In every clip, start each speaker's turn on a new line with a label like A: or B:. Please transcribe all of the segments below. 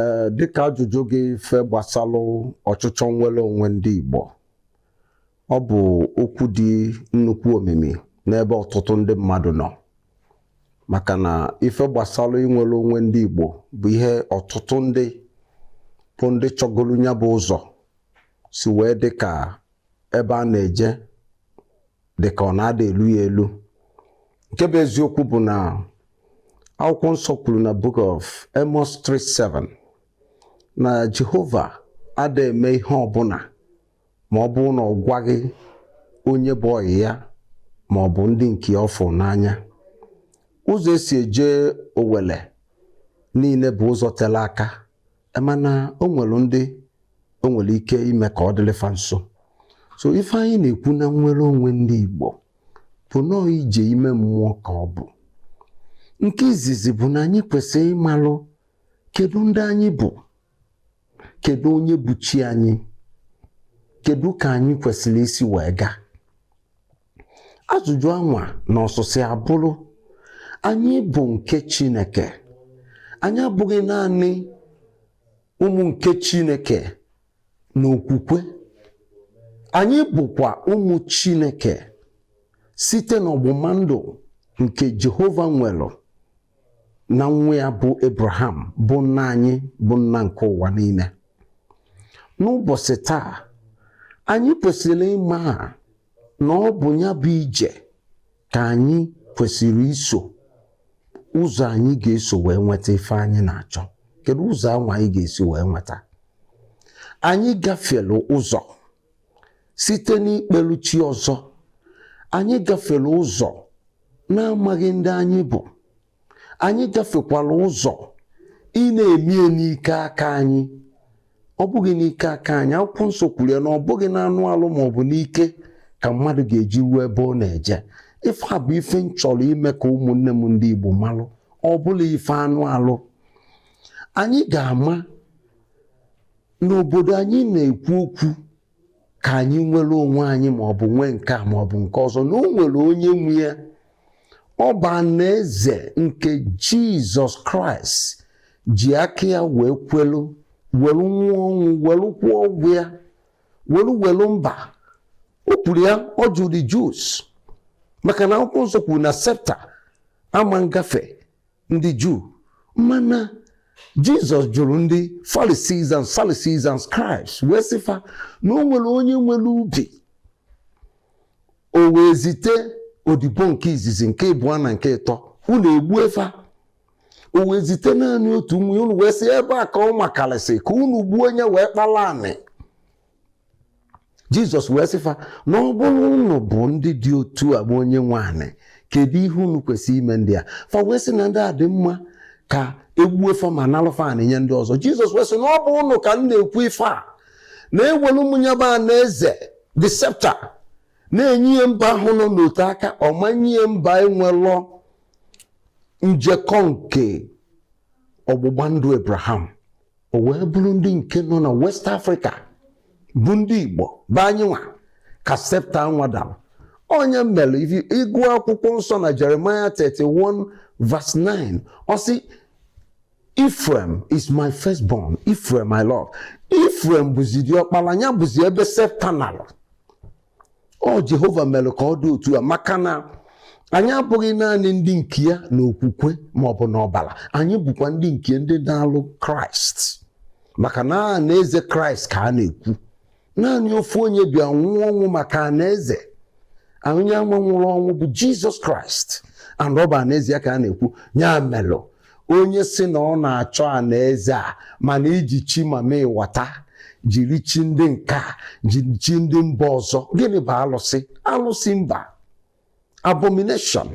A: ee dịka ajụjụ gị ife gbasalụ ọchịchọ nnwere onwe ndị Igbo ọ bụ okwu dị nnukwu omimi n'ebe ọtụtụ ndị mmadụ nọ maka na ife gbasalụ inwere onwe ndị Igbo bụ ihe ọtụtụ ndị bụ ndị chọgolu nya bụ ụzọ si wee dị ka ebe a na-eje dị ka ọ na-ada elu ya elu nke bụ eziokwu bụ na akwụkwọ nsọ kwuru na book of Amos 3:7 na Jehova ada eme ihe ọbụla ma ọ bụrụ na ọ gwaghị onye bụ ọyị ya ma ọ bụ ndị nke ya ọ fụrụ n'anya ụzọ e si eje owele niile bụ ụzọ tere aka E mana o nwere ndị o nwere ike ime ka ọ dịlị fa nso so ife anyị na-ekwu na nnwere onwe ndị Igbo bụ nọọ ije ime mmụọ ka ọ bụ nke izizi bụ na anyị kwesịrị ịmalụ kedu ndị anyị bụ kedu onye bụ chi anyị kedu ka anyị kwesịrị isi wee gaa ajụjụ anwa na ọsịsa ya bụrụ anyị bụ nke Chineke anyị abụghị naanị ụmụ nke Chineke n'okwukwe anyị bụkwa ụmụ Chineke site n'ọgbụgba ndụ nke Jehova nwere na nwa ya bụ Abraham bụ nna anyị bụ nna nke ụwa niile n'ụbọsị taa anyị kwesịrị ịma na ọ bụ nya bụ ije ka anyị kwesịrị iso ụzọ anyị ga-eso wee nweta ife anyị na-achọ kedu ụzọ anwa anyị ga-esi wee nweta anyị gafere ụzọ site n'ikpelu chi ọzọ anyị gafere ụzọ n'amaghị ndị anyị bụ anyị gafekwala ụzọ ị na-eme ya n'ike aka anyị ọ bụghị n'ike aka anyị akwụkwọ nsọ kwuru ya na ọ bụghị n'anụ alụ ma ọ bụ n'ike ka mmadụ ga-eji ruo ebe ọ na-eje ife a bụ ife m chọrọ ime ka ụmụnne m ndị Igbo malụ ọ bụrọ ife anụ alụ anyị ga-ama na obodo anyị na-ekwu okwu ka anyị nwere onwe anyị ma ọ bụ nwee nke a ma ọ bụ nke ọzọ na o nwere onye nwe ya ọ bụ anaeze nke jizọs kraịst ji aka ya wee kwelu were nwụọ ọnwụ were kwụọ ụgwọ ya were were mba o kwuru ya ọ jụrụ the Jews maka na akwụkwọ nsọ kwuru na sceptre ama ngafe ndị Juu mana Jizọs jụrụ ndị Pharisees and Sadducees and Scribes wee sị fa na o nwere onye nwere ubi o wee zite odibo nke izizi nke ịbụọ na nke ịtọ unu egbue fa o wee zite naanị otu nwa unu wee sị ebe a ka ọ makarịsị ka unu gbuo nye wee kpala anị jizọs wee sị fa na ọ bụrụ ụnụ bụ ndị dị otu a bụ onye nwe anị kedu ihe unu kwesịrị ime ndị a fa wee sị na ndị a dị mma ka e gbuo fa ma nalụ fa anị nye ndị ọzọ jizọs wee sị na ọ bụ ụnụ ka m na-ekwu ife a na ewelu m nya bụ anaeze the scepter na-enye ya mba ahụ nọ n'ote aka ọ ma nye ya mba enwelọ njekọ nke ọgbụgba ndụ abraham o wee bụrụ ndị nke nọ na west afrịka bụ ndị igbo bụ anyị nwa ka septa anwa dara ọ nya mere ifi- ị gụọ akwụkwọ nsọ na jeremaya 31 verse 9 ọ sị Ephraim is my firstborn, Ephraim my love. Ephraim bụzi diọkpara ya bụzi ebe septa nara ọ Jehova mere ka ọ dị otu a maka na anyị abụghị naanị ndị nke ya n'okwukwe ma ọ bụ n'ọbara anyị bụkwa ndị nke ndị nalụ kraịst maka na anaeze kraịst ka a na-ekwu naanị ofu onye bịa nwụọ ọnwụ maka anaeze onye anwa nwụrụ ọnwụ bụ jizọs kraịst and ọ bụ anaeze ya ka a na-ekwu ya melụ onye sị na ọ na-achọ anaeze a mana i ji chi mamịwata jiri chi ndị nke a jiri chi ndị mba ọzọ gịnị bụ alụsị alụsị mba abomination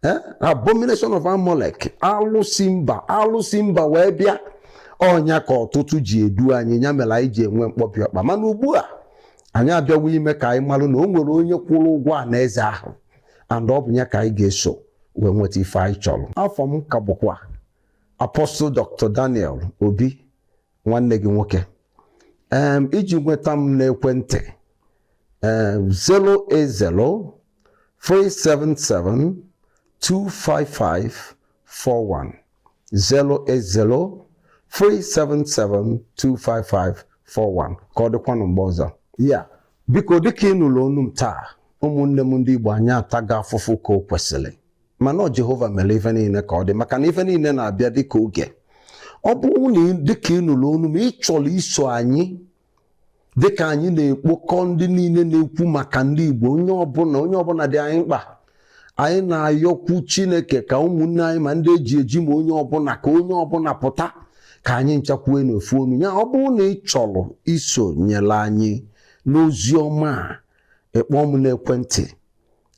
A: eh? abomination of Amalek alụsị mba alụsị mba wee bịa ọ nya ka ọtụtụ ji edu anyị ya mere anyị ji enwe mkpọbi ọkpa mana ugbu a anyị abịawo ime ka anyị marụ na o nwere onye kwụrụ ụgwọ anaeze ahụ and ọ bụ ya ka anyị ga-eso wee nweta ife anyị chọrọ afa m ka bụkwa Apostle Dr. Daniel Obi nwanne gị nwoke um, iji nweta m n'ekwentị um, 080 377 255 41 080 377 255 41 ka ọ dịkwanụ mgbe ọzọ ya biko dịka ị nụrụ onu m taa ụmụnne m ndị Igbo anyị atago afụfụ ka o kwesịrị mana ọ Jehova mere ife niile ka ọ dị maka na ife niile na-abịa dịka oge ọ bụrụ na dịka ị nụrụ onu m ị chọrọ iso anyị dịka anyị na-ekpokọ ndị niile na-ekwu maka ndị Igbo onye ọbụla onye ọbụla dị anyị mkpa anyị na-ayọkwu Chineke ka ụmụnne anyị ma ndị e ji eji ma onye ọbụla ka onye ọbụla pụta ka anyị ncha kwue n'ofu onu ya ọ bụrụ na ị chọrọ isonyere anyị n'ozi ọma a ị kpọọ m n'ekwentị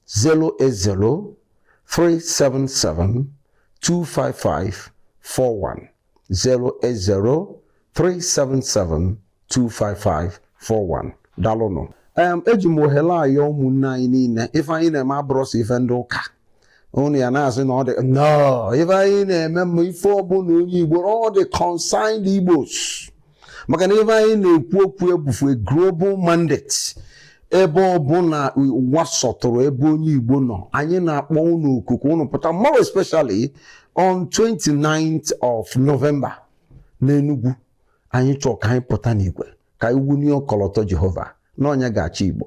A: 080 377 25541 08037725541 dalụnụ em eji m ohere a ayọ ụmụnne anyị niile ife anyị na-eme abụrọ sọ ife ndị ụka unu ya na-asị na ọ dị no ife anyị na-eme ma ife ọbụla onye Igbo ọ dị concerned Igbos maka na ife anyị na-ekwu okwu ebufu a global mandate ebe ọbụla ụwa sọtụrụ ebe onye Igbo nọ anyị na-akpọ unu oku ka unu pụta more especially on 29th of November n'Enugu anyị chọọ ka anyị pụta n'igwe ka anyị wunie ọkọlọtọ Jehova na ọ nya ga-achị Igbo